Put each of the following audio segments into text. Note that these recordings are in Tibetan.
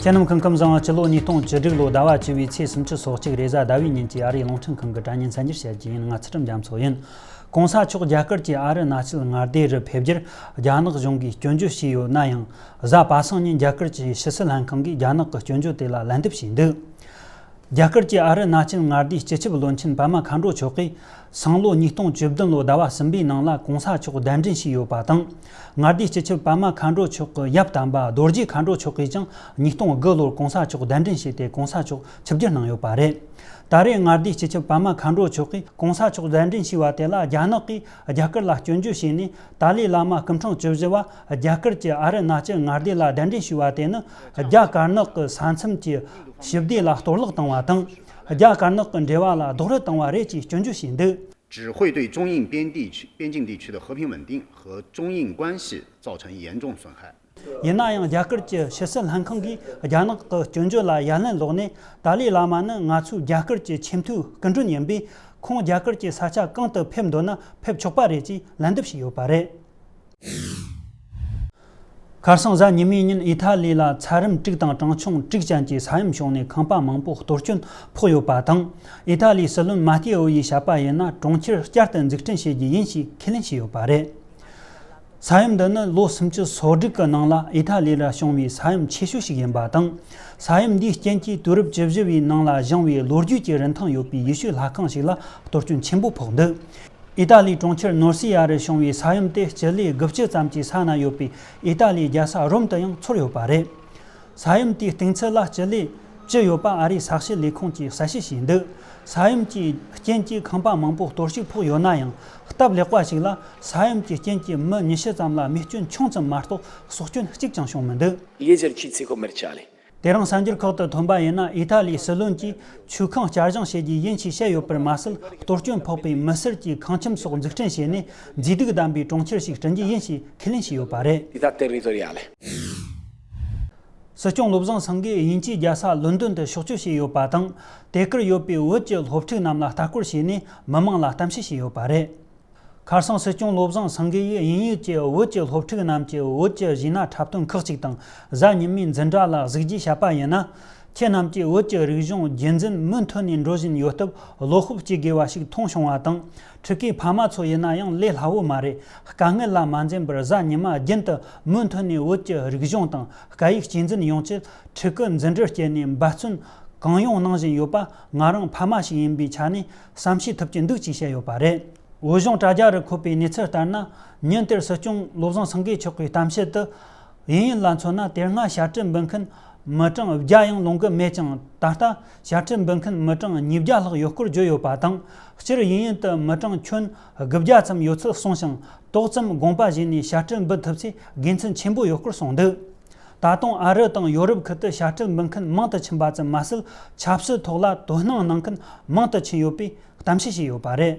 རྒྱལ་ནང་ཁང་ཁམས་བཟང་བ་སྤྱི་ལོ་ཉིས་སྟོང་བཅུ་དྲུག་ལོ་ཟླ་བ་བཅུ་བའི་ཚེས་སུམ་ཅུ་སོ་གཅིག་རེས་གཟའ་ཟླ་བའི་ཉིན་གྱི་ཨ་རིའི་རླུང་འཕྲིན་ཁང་གི་དྲ་བརྙན་མཚན་འགྱུར་བྱས་རྒྱུ་ཡིན་ང་ཚེ་ཁྲིམས་རྒྱ་མཚོ་ཡིན། གོང་ས་མཆོག་རྒྱ་གར་གྱི་ཨ་རི་གནའ་ཆེད་མངའ་སྡེ་རུ་ཕེབས་རྒྱུར་རྒྱ་ནག་གཞུང་གིས་སྐྱོན་བརྗོད་བྱས་ཡོད་ན་ཡང་གཟའ་པ་སངས་ཉིན་རྒྱ་གར་གྱི་ཕྱི་སྲིད་ལྷན་ཁང་གིས་རྒྱ་ནག་གི་སྐྱོན་བརྗོད་དེ་ལ་ལན་འདེབས་བྱས་འདུག་རྒྱ་གར་གྱི་ཨ་རི་ན་ཅལ་མངའ་སྡེའི་སྤྱི་ཁྱབ་བློན་ཆེན་པད་མ་མཁའ་འགྲོ་མཆོག་གིས་སང་ལོ་ཉིས་སྟོང་བཅུ་བདུན་ལོའི་ཟླ་བ་གསུམ་པའི་ནང་ལ་གོང་ས་མཆོག་གདན་འདྲེན་ཞིག་ཡོད་པ་དང། མངའ་སྡེའི་སྤྱི་ཁྱབ་པད་མ་མཁའ་འགྲོ་མཆོག་གི་ཡབ་དམ་པ་རྡོ་རྗེ་མཁའ་འགྲོ་མཆོག་གིས་ཀྱང་ཉིས་སྟོང་དགུ་ལོར་གོང་ས་མཆོག་གདན་འདྲེན་བྱས་ཏེ་གོང་ས་མཆོག་ཆིབས་བསྒྱུར་གནང་ཡོད་པ་རེད། ད་རེས་མངའ་སྡེའི་སྤྱི་ཁྱབ་པད་མ་མཁའ་འགྲོ་མཆོག་གིས་གོང་ས་མཆོག་གདན་འདྲེན་བྱས་པ་དེ་ལ་རྒྱ་ནག་གིས་རྒྱ་གར་ལ་སྐྱོན་བརྗོད་བྱས་ནས་ཏཱ་ལའི་བླ་མ་སྐུ་འཕྲེང་བཅུ་བཞི་བ་རྒྱ་གར་གྱི་ཨ་རི་ནག་སྐྱི་མངའ་སྡེ་ལ་གདན་འདྲེན་ཞུས་པ་དེ་ནི་རྒྱ་དཀར་ནག་གི་ས་མཚམས་ཀྱི་ཞི་བདེ་ལ་གཏོར་བརླག་བཏང་བ་དང། རྒྱ་དཀར་ནག་གི་འབྲེལ་བ་ལ་རྡོག་རོལ་བཏང་བ་རེད་ཅེས་སྐྱོན་བརྗོད་བྱས་འདུག། ཅིར་ཧུའེ་ཏུའུ་ཅུང་དབྱིང་པེན་དེའི་ཆུས་པེ་ཅིང་དེའི་ཆུས་དུ་ཧོ་ཕིང་ཝུན་ཏིང་ཧོ་ཅུང་དབྱིང་ཀུའན་ཞི་ཙའོ་ཆང་ཡིས་ཡན་ཅུང་ཟོན་ཧའེ། ཡིན་ན་ཡང་རྒྱ་གར་གྱི་ཕྱི་སྲིད་ལྷན་ཁང་གིས་རྒྱ་ནག་གི་སྐྱོན་བརྗོད་ལ་ཡ་ལན་བསློགས་ནས་ཏཱ་ལའི་བླ་མ་ནི་ང་ཚོའི་རྒྱ་གར་གྱི་ཆེས་མཐོའི་སྐུ་མགྲོན་ཡིན་པས་ཁོང་རྒྱ་གར་གྱི་ས་ཆ་གང་དུ་ཕེབས་འདོད་ན་ཕེབས་ཆོག་པ་རེད་ཅེས་ལན་འདེབས་བྱས་ཡོད་པ་རེད། ཁར་སང་གཟའ་ཉི་མའི་ཉིན་དབྱི་ཐ་ལི་ལ་ཚ་རིམ་དཀྲུག་དང་གྲངས་ཆུང་དཀྲུག་ཅན་གྱི་ས་ཡོམ་བྱུང་ནས་ཁང་པ་མང་པོ་གཏོར་སྐྱོན་ཕོག་ཡོད་པ་དང། དབྱི་ཐ་ལིའི་སྲིད་བློན་མ་ཏེ་འོ་ཡིས་བྱ་པ་ཡིན་ན་གྲོང་ཁྱེར་བསྐྱར་དུ་འཛུགས་སྐྲུན་བྱེད་རྒྱུ་ཡིན་ཞེས་ཁས་ལེན་བྱས་ཡོད་པ་རེད། ས་ཡོམ་འདི་ནི་ལོ་སུམ་ཅུ་སོ་དྲུག་གི་ནང་ལ་དབྱི་ཐ་ལི་ལ་བྱུང་བའི་ས་ཡོམ་ཆེ་ཤོས་ཤིག་ཡིན་པ་དང། ས་ཡོམ་འདིའི་རྐྱེན་གྱིས་དུས་རབས་བཅུ་བཞི་བའི་ནང་ལ་བཞེངས་བའི་ལོ་རྒྱུས་ཀྱི་རིན་ཐང་ཡོད་པའི་ཡི་ཤུའི་ལྷ་ཁང་ཞིག་ལ་གཏོར་སྐྱོན་ཆེན་པོ་ཕོག་འདུག་ཨི་ཏཱ་ལིའི་གྲོང་ཁྱེར་ནོར་སི་ཡ་རུ་བྱུང་བའི་ས་ཡོམ་དེ་སྤྱི་ལེ་དགུ་བཅུ་ཙམ་གྱི་ས་ན་ཡོད་པའི་ཨི་ཏཱ་ལིའི་རྒྱལ་ས་རོམ་དུ་ཡང་ཚུར་ཡོད་པ་རེད། ས་ཡོམ་དེའི་གཏིང་ཚད་ལ་སྤྱི་ལེ་བཅུ་ཡོད་པ་ཨ་རིའི་ས་གཤིས་ལས་ཁུངས་ཀྱིས་གསལ་བཤད་བྱས་འདུག་ས་ཡོམ་གྱི་རྐྱེན་གྱིས་ཁང་པ་མང་པོ་གཏོར་བཤིག་ཕོག་ཡོད་ན་ཡང་སྟབས་ལེགས་པ་ཞིག་ལ་ས་ཡོམ་གྱི་རྐྱེན་གྱིས་མི་ཉི་ཤུ་ཙམ་ལ་རྨས་སྐྱོན་ཆུང་ཙམ་མ་གཏོགས་ཟོག་སྐྱོན་གཅིག་ཀྱང་བྱུང་མི་འདུག། ལས་འཆར་གྱིས་ཚེ་ཁོ་མེར་ཆགས་ལས་དེ་རིང་གསར་འགྱུར་ཁག་ཏུ་ཐོན་པ་ཡིན་ན་ཨི་ཐ་ལིའི་སྲིད་བློན་གྱིས་ཆུ་ཁང་བསྐྱར་བཞེངས་བྱེད་རྒྱུ་ཡིན་ཞེས་བཤད་ཡོད་པར་མ་ཟད་གཏོར་སྐྱོན་ཕོག་པའི་མི་སེར་གྱི་ཁང་ཁྱིམ་སོགས་འཛུགས་སྐྲུན་བྱས་ནས་མཛེས་སྡུག་ལྡན་པའི་གྲོང་ཁྱེར་ཞིག་བསྐྲུན་རྒྱུ་ཡིན་ཞེས་ཁས་ལེན་བྱས་ཡོད་པ་རེད། སྲིད་སྐྱོང་བློ་བཟང་སེང་གེས་དབྱིན་ཇིའི་རྒྱལ་ས་ལོན་དོན་དུ་ཕྱོགས་བསྐྱོད་བྱས་ཡོད་པ་དང། དེ་གར་ཡོད་པའི་བོད་ཀྱི་སློབ་ཕྲུག་རྣམས་ལ་ལྟ་སྐོར་བྱས་ནས་མི་མང་ལ་གཏམ་བཤད་བྱས་ཡོད་པ་རེད། ཁར་སང་སྲིད་སྐྱོང་བློ་བཟང་སེང་གེ་ཡིས་དབྱིན་ཡུལ་གྱི་བོད་ཀྱི་སློབ་ཕྲུག་རྣམས་ཀྱི་བོད་ཀྱི་གཞས་སྣ་འཁྲབ་སྟོན་ཁག་ཅིག་དང་གཟའ་ཉི་མའི་འཛིན་གྲྭ་ལ་གཟིགས་རྗེས་བཤད་པ་ཡིན་ན། ཁྱེད་རྣམས་ཀྱིས་བོད་ཀྱི་རིག་གཞུང་རྒྱུན་འཛིན་མུ་མཐུད་ནས་འགྲོ་བཞིན་ཡོད་སྟབས་བློ་ཁོག་གཅིག་དགོས་པ་ཞིག་མཐོང་བྱུང་བ་དང། ཕྲུ་གུའི་ཕ་མ་ཚོ་ཡིན་ན་ཡང་ལས་སླ་བོ་མ་རེད་དཀའ་ངལ་ལ་མ་འཛེམས་པར་གཟའ་ཉི་མ་རྒྱུན་དུ་མུ་མཐུད་ནས་བོད་ཀྱི་རིག་གཞུང་དང་སྐད་ཡིག་གཅེས་འཛིན་ཡོང་ཆེད་ཕྲུ་གུ་འཛིན་གྲྭར་བསྐྱལ་ནས་འབད་བརྩོན་གང་ཡོང་གནང་བཞིན་ཡོད་པ་ང་རང་ཕ་མ་ཞིག་ཡིན་པའི་ཆ་ནས་བསམ་ཤེས་ཐུབ་ཀྱི་འདུག་ཅེས་བཤད་ཡོད་པ་རེད། འོས་གཞུང་དྲ་རྒྱ་རུ་འཁོད་པའི་གནས་ཚུལ་ལྟར་ན། ཉིན་དེར་སྲིད་སྐྱོང་བློ་བཟང་སེང་གེ་མཆོག་གི་གཏམ་བཤད་དུ། དབྱིན་ཡུལ་ལ་མཚོན་ན་དེ་སྔ་བྱ་སྤྲེལ་འབུད་མཁན་མི་གྲངས་བརྒྱ་ཡང་ལོང་གི་མེད་ཅིང་ད་ལྟ་བྱ་སྤྲེལ་འབུད་མཁན་མི་གྲངས་ཉིས་བརྒྱ་ལྷག་ཡོད་སྐོར་བརྗོད་ཡོད་པ་དང། སྤྱིར་དབྱིན་ཡུལ་དུ་མི་གྲངས་ཁྱོན་དགུ་བརྒྱ་ཙམ་ཡོད་ཚུལ་གསུངས་ཤིང་ཏོག་ཙམ་དགོངས་པ་བཞེས་ནས་བྱ་སྤྲེལ་འབུད་ཐུབ་ཚེ་དགེ་མཚན་ཆེན་པོ་ཡོད་སྐོར་གསུངས་འདུག་ད་དུང་ཨ་རི་དང་ཡོ་རོབ་ཁུལ་དུ་ཤ་ཁྲག་འབུལ་མཁན་མང་དུ་ཕྱིན་པ་ཙམ་མ་ཟད་ཆབ་སྲིད་ཐོག་ལ་དོ་སྣང་གནང་མཁན་མང་དུ་ཕྱིན་ཡོད་པའི་གཏམ་བཤད་བྱས་ཡོད་པ་རེད།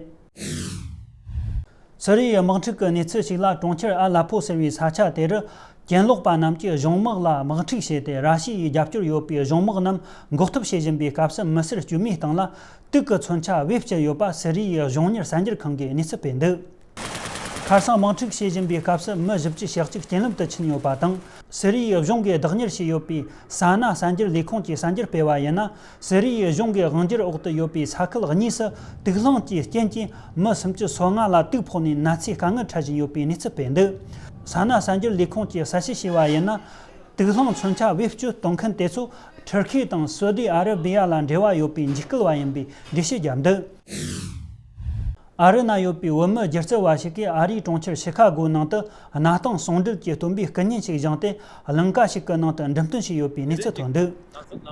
སི་རི་ཡའི་དམག་འཁྲུག་གི་གནས་ཚུལ་ཞིག་ལ་གྲོང་ཁྱེར་ཨ་ལ་པོ་ཟེར་བའི་ས་ཆ་དེ་རུ་གྱེན་ལོག་པ་རྣམས་ཀྱིས་གཞུང་དམག་ལ་དམག་འཁྲུག་བྱས་ཏེ་ར་ཤི་ཡའི་རྒྱབ་སྐྱོར་ཡོད་པའི་གཞུང་དམག་རྣམས་འགོག་ཐབས་བྱེད་བཞིན་པའི་སྐབས་སུ་མི་སེར་དཀྱུས་མའི་སྟེང་ལ་དུག་གི་མཚོན་ཆ་དབྱིབས་བཅས་ཡོད་པ་སི་རི་ཡའི་གཞུང་གཉེར་གསར་འགྱུར་ཁང་གིས་གནས་ཚུལ་སྤེལ་འདུག། ཁར་སང་དམག་འཁྲུག་བྱེད་བཞིན་པའི་སྐབས་སུ་མི་བཞི་བཅུ་ཞག་གཅིག་རྐྱེན་ལམ་དུ་ཕྱིན་ཡོད་པ་དང། སི་རི་ཡའི་གཞུང་གིས་བདག་གཉེར་བྱས་ཡོད་པའི་ས་ན་གསར་འགྱུར་ལས་ཁུངས་ཀྱིས་གསར་འགྱུར་སྤེལ་བ་ཡིན་ན། སི་རི་ཡའི་གཞུང་གི་དབང་བསྒྱུར་འོག་ཏུ་ཡོད་པའི་ས་ཁུལ་གཉིས་སུ་དུག་རླངས་ཀྱི་རྐྱེན་གྱིས་མི་སུམ་ཅུ་སོ་ལྔ་ལ་དུག་ཕོག་ནས་ན་ཚའི་དཀའ་ངལ་འཕྲད་བཞིན་ཡོད་པའི་གནས་ཚུལ་སྤེལ་འདུག་ས་ན་གསར་འགྱུར་ལས་ཁུངས་ཀྱིས་གསལ་བཤད་བྱས་པ་ཡིན་ན། དུག་རླངས་མཚོན་ཆ་བེད་སྤྱོད་གཏོང་མཁན་དེ་ཚོ་ཐུར་ཁེ་དང་སོ་ཏི་ཨ་རི་བྷི་ཡ་ལ་འབྲེལ་བ་ཡོད་པའི་འཇིགས་སྐུལ་བ་ཡིན་པའི་འགྲེལ་བཤད་བརྒྱབ་འདུག། ཨ་རི་ན་ཡོད་པའི་བོད་མི་སྒྱུ་རྩལ་བ་ཞིག་གིས་ཨ་རིའི་གྲོང་ཁྱེར་ཞི་ཁ་གོའི་ནང་དུ་གནའ་སྟངས་ཟུང་འབྲེལ་གྱི་བསྟུན་པའི་སྐུ་བརྙན་ཞིག་བཞེངས་ཏེ་གླིང་ག་ཞིག་གི་ནང་དུ་འགྲེམས་སྟོན་བྱས་ཡོད་པའི་གནས་ཚུལ་ཐོན་འདུག་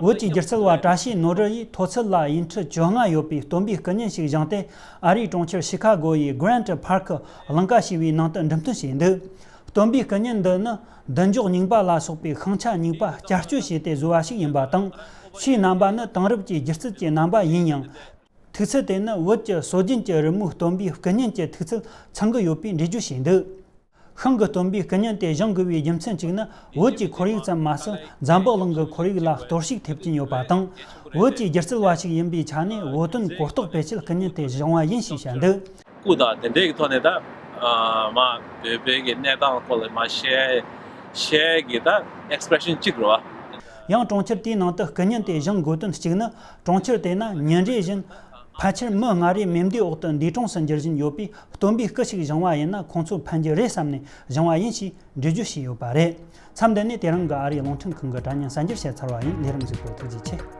བོད་ཀྱི་སྒྱུ་རྩལ་བ་བཀྲ་ཤིས་ནོར་རི་ཡིས་མཐོ་ཚད་ལ་ཡིག་འཕྲུལ་བཅོ་ལྔ་ཡོད་པའི་བསྟུན་པའི་སྐུ་བརྙན་ཞིག་བཞེངས་ཏེ་ཨ་རིའི་གྲོང་ཁྱེར་ཞི་ཁ་གོ་ཡི Grant Park གླིང་ག་ཞེས་པའི་ནང་དུ་འགྲེམས་སྟོན་བྱས་འདུག་བསྟུན་པའི་སྐུ་བརྙན་འདི་ནི་བདུན་འཇོག་རྙིང་པ་ལ་སོགས་པའི་ཤིང་ཆ་རྙིང་པ་བསྐྱར་བཅོས་བྱས་ཏེ་བཟོས་པ་ཞིག་ཡིན་པ་དང་ཆུའི་རྣམ་པ་ནི་དེང་རབས་ཀྱི་སྒྱུ་རྩལ་གྱི་རྣམ་པ་ཡིན་ཡང་ཐིག་ཚད་དེ་ནི་བོད་ཀྱི་སྲོལ་རྒྱུན་གྱི་རི་མོའི་སྟོན་པའི་སྐུ་བརྙན་གྱི་ཐིག་ཚད་ཚང་གི་ཡོད་པའི་འགྲེལ་བརྗོད་བྱས་འདུག་ཤིང་གི་སྟོན་པའི་སྐུ་བརྙན་དེ་བཞེངས་དགོས་པའི་རྒྱུ་མཚན་གཅིག་ནི་བོད་ཀྱི་ཁོར་ཡུག་ཙམ་མ་ཟད་ཛམྦག་གླིང་གི་ཁོར་ཡུག་ལ་གཏོར་བཤིག་ཐེབས་ཀྱིན་ཡོད་པ་དང་བོད་ཀྱི་སྒྱུ་རྩལ་བ་ཞིག་ཡིན་པའི་ཆ་ནས་བོད་དོན་གོ་རྟོགས་སྤེལ་ཆེད་སྐུ་བརྙན་དེ་བཞེངས་བ་ཡིན་ཞེས་བཤད་འདུག། སྐུ་དང་དེ་འབྲེལ་གྱི་ཐོག་ནས་ད་མ་བོད་པའི་གི་གནས་སྟངས་ཐོག་ལ་མ་བཤད་བཤད་གི་ད expression གཅིག་རོ། ཡང་གྲོང་ཁྱེར་དེའི་ནང་དུ་སྐུ་བརྙན་དེ་བཞེངས་དགོས་དོན་གཅིག་ནི་གྲོང་ཁྱེར་དེ་ན་ཉིན་རེ་བཞིན་ཕལ་ཆེར་མི་ལྔ་རེ་མེ་མདའི་འོག་ཏུ་འདས་གྲོངས་སུ་འགྱུར་བཞིན་ཡོད་པས་སྟོན་པའི་སྐུ་ཞིག་བཞེངས་བ་ཡིན་ན་ཁོང་ཚོས་ཕན་གྱི་རེད་བསམ་ནས་བཞེངས་བ་ཡིན་ཞེས་འགྲེལ་བརྗོད་བྱས་ཡོད་པ་རེད། མཚམས་འདི་ནས་དེ་རིང་གི་ཨ་རིའི་རླུང་འཕྲིན་ཁང་གི་དྲ་བརྙན་གསར་འགྱུར་བཤད་ཚར་བ་ཡིན་ལས་རིམ་བཞུགས་པའི་ཐུགས་རྗེ་ཆེ།